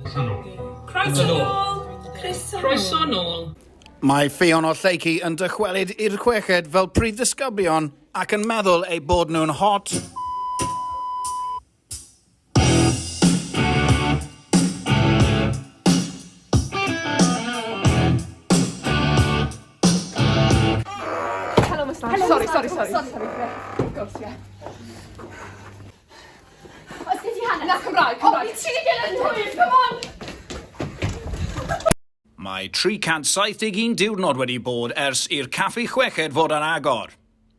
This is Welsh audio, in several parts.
Croeso nôl. Croeso nôl. Croeso Croeso nôl. Mae Ffion o Lleucu yn dychwelyd i'r chweched fel prif ddisgyblion ac yn meddwl eu bod nhw'n hot. Mae 371 diwrnod wedi bod ers i'r caffi chweched fod ar agor.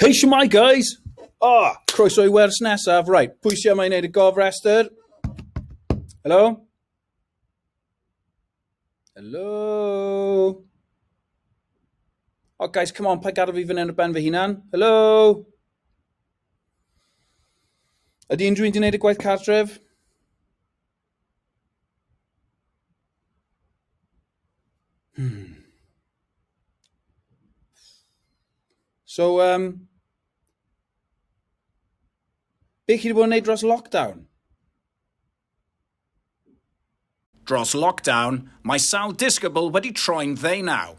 Hei, siwmai, guys! O, oh, croeso i wers nesaf. Right, pwy sy'n yma i wneud y gofrestr? Helo? Helo? O, oh, guys, come on, pa gadw fi fan hyn o ben fy hunan? Helo? Ydy unrhyw un wedi gwneud y gwaith cartref? Hmm. So, um, be chi wedi bod yn neud dros lockdown? Dros lockdown, mae sawl disgybl wedi troi'n ddeunaw.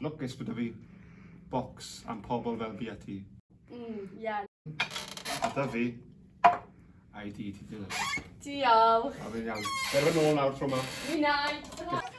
Lwcus bod 'da fi bocs am pobl fel fi a ti. Mm, ie. A 'da fi ID ti dilyn. Diolch. A fi'n iawn. Cer fy nôl nawr tro ma. Fi'n iawn.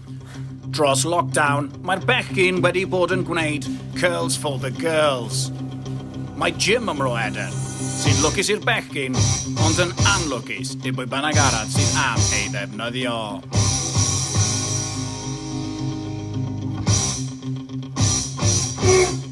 Dros lockdown, mae'r bechgyn wedi bod yn gwneud curls for the girls. Mae Jim ym Mro Eden, sy'n lwcus i'r bechgyn, ond yn anlwcus i bwy bynnag arall sydd am ei ddefnyddio.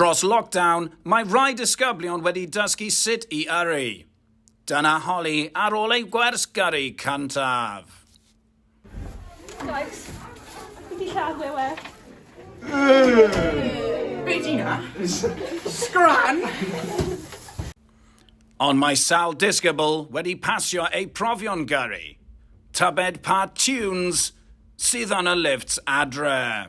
Dros lockdown, mae rhai disgyblion wedi dysgu sut i yrru. Dyna holi ar ôl ei gwers gyrru cyntaf. Guys, fi di lladd e we. Be di na? Scran! Ond mae Sal Disgybl wedi pasio ei profion gyrru. Tybed pa tunes sydd yn y lifts adre.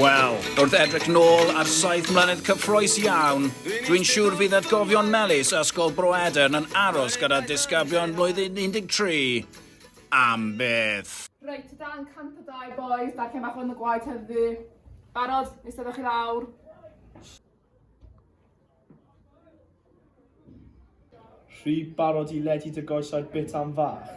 Wel, wrth edrych nôl ar saith mlynedd cyffroes iawn, dwi'n siŵr fydd atgofion melys Ysgol Bro Edern yn aros gyda disgyblion blwyddyn 13 am byth. Reit, dan 102 boys, da lle mae hwn y gwaith heddi. Barod, eistedwch i lawr. Rhi barod i ledu dy goesau bit am fach?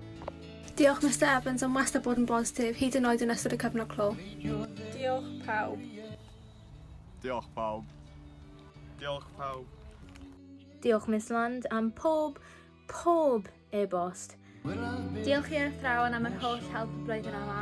Diolch Mister Evans am wastad bod yn bositif, hyd yn oed yn ystod y cyfnod clo. Diolch pawb. Diolch pawb. Diolch pawb. Diolch Miss Land am pob, pob e-bost. Diolch i'r athrawon am yr holl help blwyddyn yma.